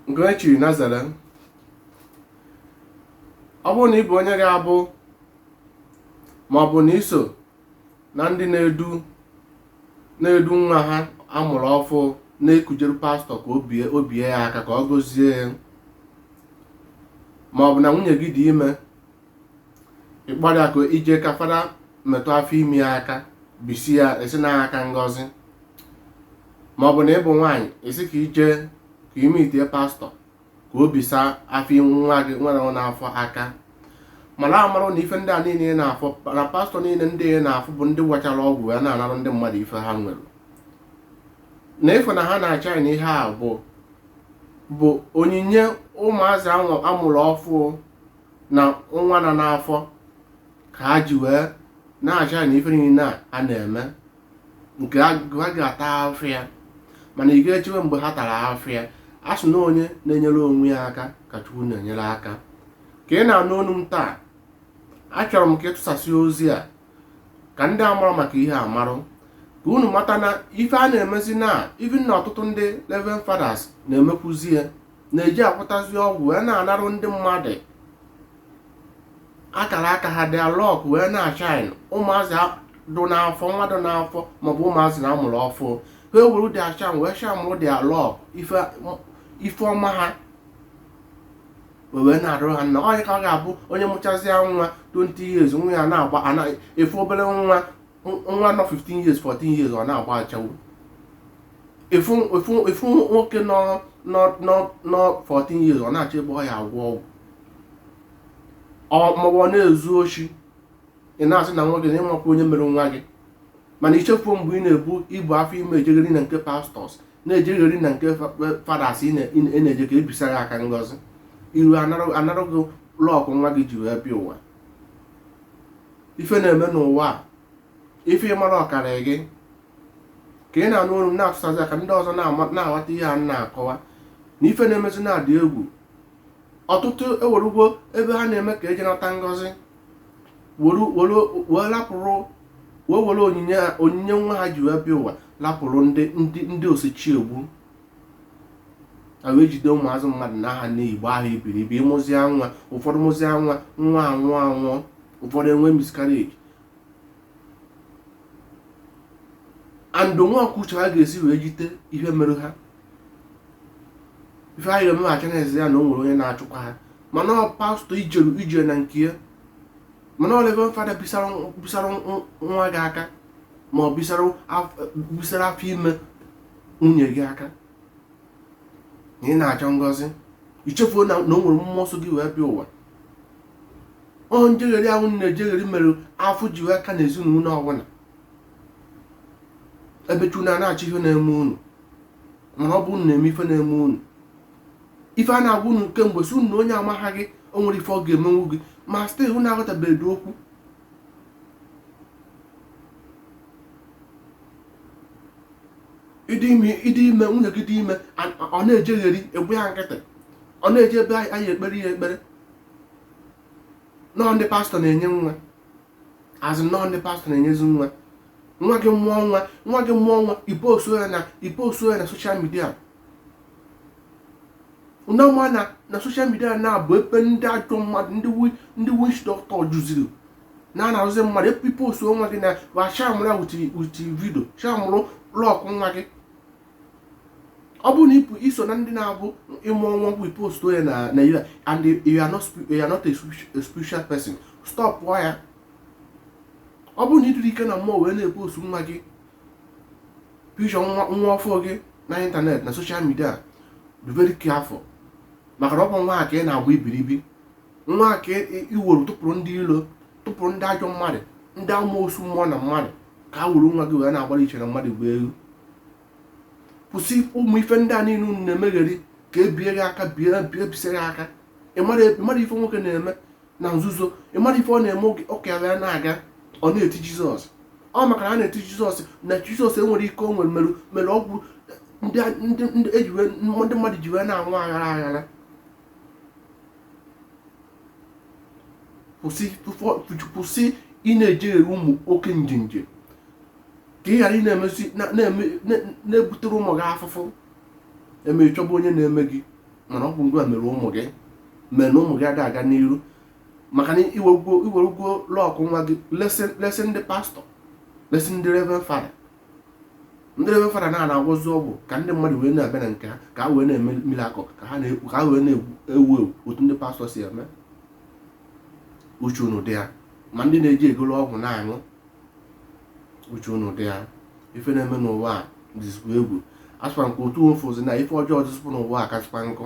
nke onye chiri Nazareth ọ bụrụ na ị bụ onye ga-abụ ma ọ bụ na iso na ndị na-edu na-edu nwa ha amụrụ ọfụ na-ekujere pastọ ka o bie o bie ya aka ka ọ gọzie ya ma ọ bụ na nwunye gị dị ime ịkpọrọ ya ka ije ka fada metụ afọ ime ya aka bisi ya isi na aka ngọzi ma ọ bụ na ịbụ nwaanyị ị sị ka ije ka ị meetie pastọ ka o bisa afọ ime nwa gị nwere ọ n'afọ aka mara amara na ife ndị a niile ị na-afụ na pastọ niile ndị ị na-afụ bụ ndị gwachara ọgwụ ya na-anarụ ndị mmadụ ife ha nwere na ịfụ na ha na-ashine na ihe a bụ bụ onyinye ụmụazị ahụ amụrụ ọfụ na nwa nọ n'afọ ka ha ji wee na-ashine na ife niile a a na-eme nke ha ha ga-ata afụfụ ya mana ị ga-echewe mgbe ha tara afụfụ ya a sị na onye na-enyere onwe ya aka ka chukwu na-enyere aka ka ị na-anụ olu m taa achọrọ m ka ịtụsasị ozi a ka ndị amarọ maka ihe a marụ ka unu mata na ife a na-emezi na even na ọtụtụ ndị Reverend Fathers na-emekwuzi ya na-eji akwụtazi ọgwụ wee na-anarụ ndị mmadụ akara aka ha their luck wee na-ashine ụmụazị dụ n'afọ nwa dụ n'afọ maọbụ ụmụazị na amụrụ ọfụ ha ewerụ their shine wee shine werụ their luck ife ọma ha wee narụ ha na onye ka ọ ga-abụ onye mụchazie nwa 20 years nwa ya na-agba ị fụ obere nwa nwa nọ 15 years 14 years ọ na-agba ashawo ị fụ nwoke nọ 14 years ọ na-achọ ebe ọ ya-agwọ ọgwụ maọbụ ọ na-ezu oshi ị na-asị na nwa gị na ịmakwa onye mere nwa gị mana ichefuo mgbe ị na-ebu ibu afọ ime ejegheri na nke pastors na-ejegheri na nke fathers ị na-eje ka ebisa ya aka ngọzi i ruo a narụ gị luck nwa gị ji wee bịa ụwa ife na-eme n'ụwa a ife ị marọ karị gị ka ị na-anụ olu m na-atụsazi ya ka ndị ọzọ na-ama- na-aghọta ihe a m na-akọwa na ife na-emezi na-adị egwu ọtụtụ ewerugwo ebe ha na-eme ka eje nata ngọzi were were wee lapụrụ wee were onyinye ha- onyinye nwa ha ji wee bịa ụwa lapụrụ ndị ndị ndị osichiegbu a wee jide ụmụazị mmadụ na aha nne igbo ahụ ibiri ibi ịmụzịa nwa ụfọdụ mụzịa nwa nwa anwụọ anwụọ ụfọdụ enwe miscarriage and nwa ọkụcha ha ga-esi wee jite ihe mere ha ife anyị eme achọ na-ezi ya na o nwere onye na-achụkwa ha mana ọ pastọ ijeru ije na nke ya mana ọ Reverend Father bisara nwa gị aka ma ọ bisara afọ ime nwunye gị aka na ị na-achọ ngọzi ị chefuo na o nwere mmụọ so gị wee bịa ụwa ọ njegheri ahụ unu na-ejegheri mere afụfụ ji wee ka na ezinụlọ ọbụla ebe chukwu na na-achọ ihe na-eme unu mana ọ bụ unu na-eme ife na-eme unu ife a na-agwa unu kemgbe sị unu na onye amaghị gị o nwere ife ọ ga-emenwu gị ma still unu aghọtabeghị okwu ịdị ime nwunye gị dị ime ọ na-ejegheri ị gba ya nkịtị ọ na-eje ebe a ya-ekpere ya ekpere na ọ ndị pastọ na-enye nwa a sị na ọ ndị pastọ na-enyezi nwa nwa gị mụọ nwa ipostuo ya na soshal midia unu ama na soshal midia na-abụ ebe ndị ajọ mmadụ ndị witch doctor jụziri na-arụzi mmadụ ipostuo nwa gị na wa shamụrụ ya wuti vidio shamụrụ lọkụ nwa gị ọ bụrụ na iso na ndị na-abụ ịmụọ nwa bụ ipostuo ya online and you are not a spiritual person stop ya ọ bụrụ na ịdịrọ ike na mmụọ wee na-epostu nwa gị picture nwa ọfụụ gị na ịntanetị na soshal midia be very careful maka na ọ bụ nwa a ka ị na-agba ibiribi nwa a ka iwere tụpụrụ ndị ilo tụpụrụ ndị ajọ mmadụ ndị amoosu mmụọ na mmadụ ka ha were nwa gị wee na-agbara iche na mmadụ gba elu kwụsị ụmụ ife ndị a niile unu na-emegheri ka ebie gị aka ebisie gị aka ịmara ife nwoke na-eme na nzuzo ị mara ife ọ na-eme ụka ya na-aga ọ na-eti jizọs ọ maka na a na-eti jizọs na jizọs enwere ike iwere mere ọgwụ ndị mmadụ ji wee na-anwụ aghara aghara kwụsị ị na-eje ụmụ oke njenje ka ị ghara ị na-ebutere ụmụ gị afụfụ eme ịchọba onye na-eme gị mana ọ bụ gị nwa mere ụmụ gị mere na ụmụ gị ada aga n'iru maka na iwerugo lọkụ nwa gị lesi ndị pastọ lesi ndị reverend fada ndị reverend fada na-agwọzi ọgwụ ka ndị mmadụ wee na-abịa na nke ha ka ha wee na-eme mirakụl ka ha wee na-ewu ewu otu ndị pastọ si eme uche unu dị ya ma ndị na-eje egolo ọgwụ na-aṅụ uche unu dị ya ife na-eme n'ụwa a dịzikwa egwu asịkwa nke otu ofozi na ife ọjọọ dịzikwa n'ụwa a kasịkwa nkụ